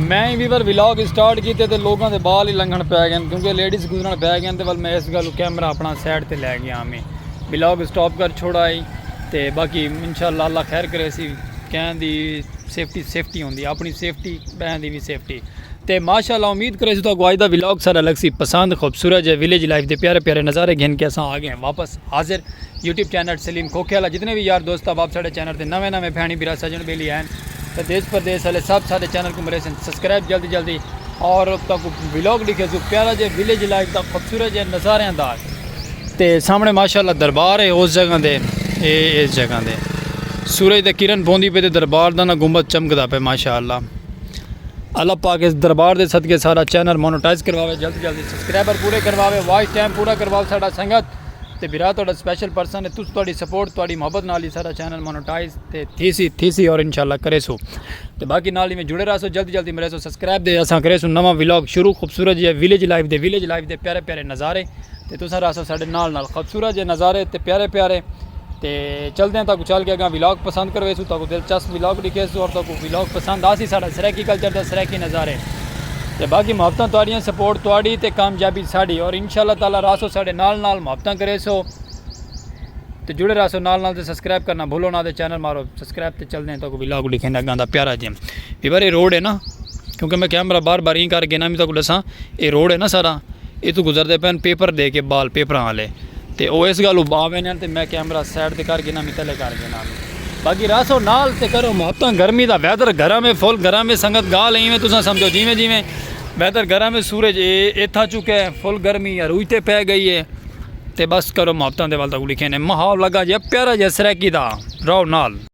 میں ہی viewer vlog start کیتے تے لوگاں دے بال ہی لنگھن پے گئے کیونکہ لیڈیز گزرن پے گئے تے ول میں اس گل کیمرہ اپنا سائڈ تے لے گیا میں ولاگ اسٹاپ کر چھوڑا ہی تے باقی انشاءاللہ اللہ خیر کرے سی کہیں دی سیفٹی سیفٹی ہوندی اپنی سیفٹی بہن دی بھی سیفٹی تے ماشاءاللہ امید کرے سی تو اگوائی دا ولاگ سارا لگ سی پسند خوبصورت جے ویلیج لائف دے پیارے پیارے نظارے گھن کے اساں آ گئے واپس حاضر یوٹیوب چینل سلیم کھوکھے آلا جتنے وی یار دوست احباب ساڈے چینل تے نویں نویں بھینڑی بھرا سجن بیلی ہین تے دیس پردیس آلے سب ساڈے چینل کوں مریسن سبسکرائب جلدی جلدی اور تاکو ولاگ ڈیکھے سو پیارا جے ویلیج لائف دا خوبصورت جے نظاریاں دا تے سامنے ماشاءاللہ دربار ہے اس جگہ دے اے اس جگہ دے سورج دے کرن پوندی پے تے دربار دا نہ گنبد چمکدا پے ماشاءاللہ اللہ پاک اس دربار دے صدقے سارا چینل مونوٹائز کرواوے جلد جلد سبسکرائبر پورے کرواوے واچ ٹائم پورا کرواوے سارا سنگت تے بھرا تہاڈا سپیشل پرسن ہے تس تہاڈی سپورٹ تہاڈی محبت نال ہی سارا چینل مونوٹائز تے تھی سی تھی سی اور انشاءاللہ کرے سو تے باقی نال میں جڑے رہسو جلد جلد مرے سو سبسکرائب دے اساں کرے سو نواں ولاگ شروع خوبصورت جی ویلیج لائف دے ویلیج لائف دے پیارے پیارے نظارے تے تساں رہسو ساڈے نال نال خوبصورت جے نظارے تے پیارے پیارے تے چلدے ہیں تاکو چل کے اگاں ولاگ پسند کرویسو تاکو دلچسپ ولاگ ڈکھیسو اور تاکو ولاگ پسند آسی ساڈا سرائیکی کلچر دا سرائیکی نظارے تے باقی محبتاں تواڈیاں سپورٹ تواڈی تے کامیابی ساڈی اور انشاءاللہ تعالی رہسو ساڈے نال نال محبتاں کریسو تے جڑے رہسو نال نال تے سبسکرائب کرنا بھولو نہ تے چینل مارو سبسکرائب تے چلدے ہیں تاکو ولاگ ڈکھینے اگاں دا پیارا جے ویور اے روڈ ہے نا کیونکہ میں کیمرہ بار بار ایں کر گینا میں تاکو ڈساں اے روڈ ہے نا سارا اتوں گزردے پئن پیپر ڈے کے بال پیپراں آلے تے او اس گل اوں باں ویندے ہن تے میں کیمرہ سائیڈ تے کر گھناں متلے کر گھناں میں باقی راسو نال تے کرو محبتاں گرمی دا ویدر گرم ہے فل گرم ہے سنگت گال اینویں تساں سمجھو جیویں جیویں ویدر گرم ہے سورج اے ایتھا چکے ہے فل گرمی عروج تے پے گئی ہے تے بس کرو محبتاں دے ول تک لکھے نے ماحول لگا جیا پیارا جیا سرائیکی دا رہو نال۔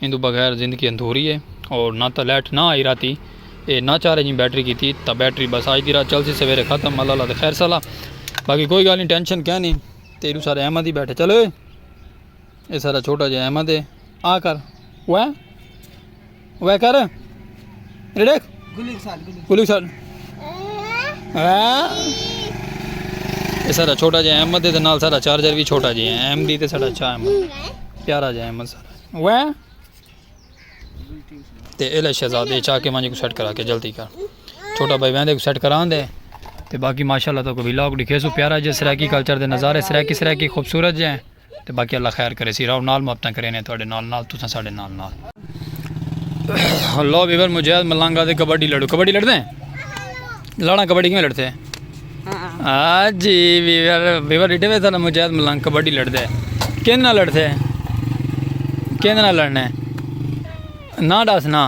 ایندوں بغیر زندگی اندھوری اے اور نہ تاں لائٹ نہ آئی راتی اے نہ چارج ایں بیٹری کیتی تاں بیٹری بس آج دی رات چلسی سویرے ختم اللہ اللہ تے خیر سلا باقی کوئی گالیں ٹینشن کہہ نہیں تے ایڈو سارے احمد ہی بیٹھے چلو اے سارا چھوٹا جے احمد ہے آ کر وہ وہ کر سارا چھوٹا جہاں احمد ہے نال سارا چارجر بھی چھوٹا جہاں ہے ایم ڈی تے سارا اچھا احمد پیارا جہاں احمد سارا وہ تے الا شہزادے چاہ کے مانجے کو سیٹ کرا کے جلدی کر چھوٹا بھائی ویندے کو سیٹ کران دے تے باقی ماشاءاللہ تو کو ویلاگ دکھے سو پیارا جہاں سرائیکی کلچر دے نظارے سرائیکی سرائیکی خوبصورت جہاں تے باقی اللہ خیر کریسی راؤ نال محبتاں کرینے تہاڈے نال نال تساں ساڈے نال نال۔ ہلو ویور مجاہد ملنگ آدھے کبڈی لڑو کبڈی لڑدے ہیں لڑاں کبڈی کیویں لڑتے ہیں ہاں جی ویور ویور ڈٹے وے تھا مجاہد ملنگ کبڈی لڑدے ہیں کیندے نال لڑتے ہیں کیندے نال لڑنے نا ڈاس نا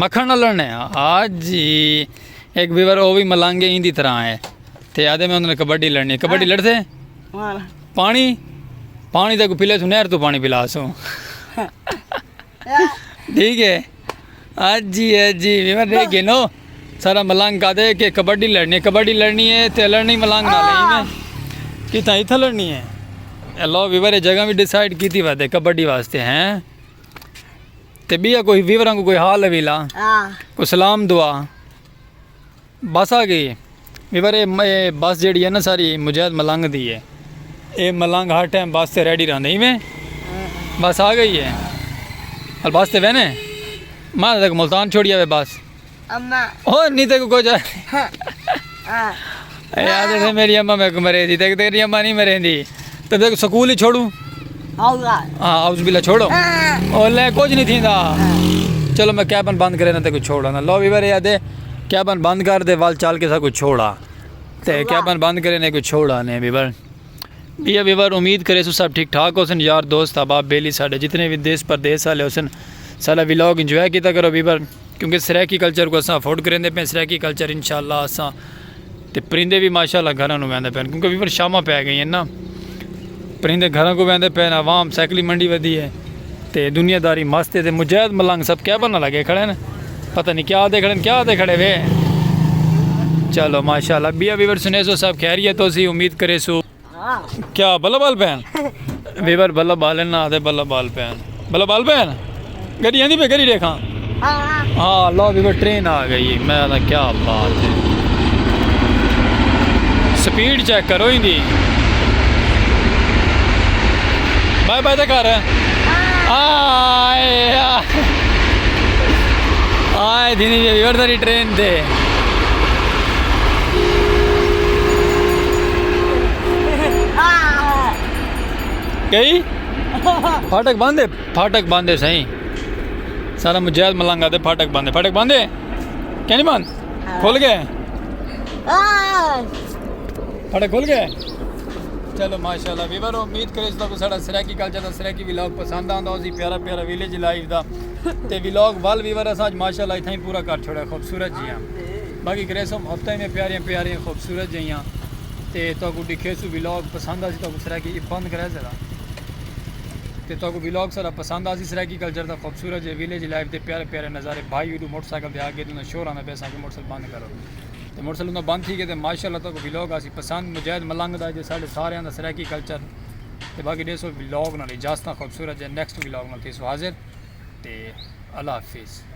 مکھن نال لڑنے ہاں جی ایک ویور او بھی ملنگ ہی دی طرح ہے تے آدھے میں انہوں نے کبڈی لڑنی کبڈی لڑتے ہیں پانی پانی تک پلے تو نہر تو پانی پلا سو ٹھیک ہے جی جی میں دیکھ گئے نو سارا ملنگ کا دے کہ کبڈی لڑنی ہے کبڈی لڑنی ہے تے لڑنی ملنگ نہ لئی میں کتنا اتھا لڑنی ہے اللہ ویور جگہ بھی ڈیسائیڈ کیتی وا دے کبڈی واسطے ہیں تے بیا کوئی ویوراں کو کوئی حال ہے ویلا کو سلام دعا بس آ گئی ویور اے بس جیڑی ہے نا ساری مجاہد ملنگ دی ہے اے ملنگ ہر ٹائم بس تے ریڈی رہندے ایویں بس آ گئی ہے اور بس تے وینے ماں تک ملتان چھوڑیا وے بس اما او نہیں تک کو جا اے آدھے میری اما میں کو مرے دی تک تیری اما نہیں مرے دی تے ویکھ سکول ہی چھوڑوں ہاں اعوذ باللہ چھوڑو او لے کچھ نہیں تھیندا چلو میں کیبن بند کرے نہ تے کوئی چھوڑا نہ لو ویور یا دے کیبن بند کر دے وال چال کے سا کوئی چھوڑا تے کیبن بند کرے نہ کوئی چھوڑا نے ویور بیا ویور امید کرے سو سب ٹھیک ٹھاک ہوسن یار دوست احباب بیلی ساڈے جتنے بھی دیس پردیس والے ہوسن سارا ولاگ انجوائے کیتا کرو ویور کیونکہ سرائیکی کلچر کو اساں افورڈ کریندے پئے سرائیکی کلچر انشاءاللہ اساں تے پرندے بھی ماشاءاللہ گھراں نو ویندے پئے کیونکہ ویور شاماں پے گئیاں نا پرندے گھراں کو ویندے پئے عوام سائیکلی منڈی ودی ہے تے دنیا داری مست ہے تے مجاہد ملنگ سب کیبل نہ لگے کھڑے ہیں پتہ نہیں کیا دے کھڑے ہیں کیا دے کھڑے وے چلو ماشاءاللہ بیا ویور سنیسو سب خیریت ہو سی امید کرے سو کیا بلہ بال پین ویور بلہ بال ہیں نہ دے بلہ بال پین بلہ بال پین گڑی آندھی پہ گڑی دیکھاں ہاں اللہ ویور ٹرین آ گئی میں دا کیا بات ہے سپیڈ چیک کرو ہی دی بائے بائے دے کار آئے آئے دینی ویور داری ٹرین دے کئی پھاٹک باندھے پھاٹک باندھے سائیں سارا مجاہد ملنگا دے پھاٹک باندھے پھاٹک باندھے کیا نہیں باندھ کھل گئے پھاٹک کھل گئے چلو ماشاءاللہ ویور امید کرے اس کو ساڑا سرائیکی کلچر دا سرائیکی ویلاگ پسند آندا ہو سی پیارا پیارا ویلیج لائف دا تے ویلاگ وال ویور اساں ماشاءاللہ اتھاں ہی پورا کر چھوڑا خوبصورت جی ہاں باقی کریسوں ہفتہ میں پیاریاں پیاریاں خوبصورت جہیاں تے تہاکوں ڈکھیسوں ویلاگ پسند آسی تہاکوں سرائیکی ای بند کرے ذرا تے تہاکوں ویلاگ سارا پسند آسی سرائیکی کلچر دا خوبصورت جے ویلیج لائف دے پیارے پیارے نظارے بھائی ویڈو موٹر سائیکل دے آگے توں دا شور آندا پیا ساکوں موٹر سائیکل بند کرو تے موٹر سائیکل توں بند تھی گئے تے ماشاءاللہ تہاکوں ویلاگ آسی پسند مجاہد ملنگ دا جے ساڈے ساریاں دا سرائیکی کلچر تے باقی ڈیسو ویلاگ نال اجازتاں خوبصورت جے نیکسٹ ویلاگ نال تھیسوں حاضر تے اللہ حافظ۔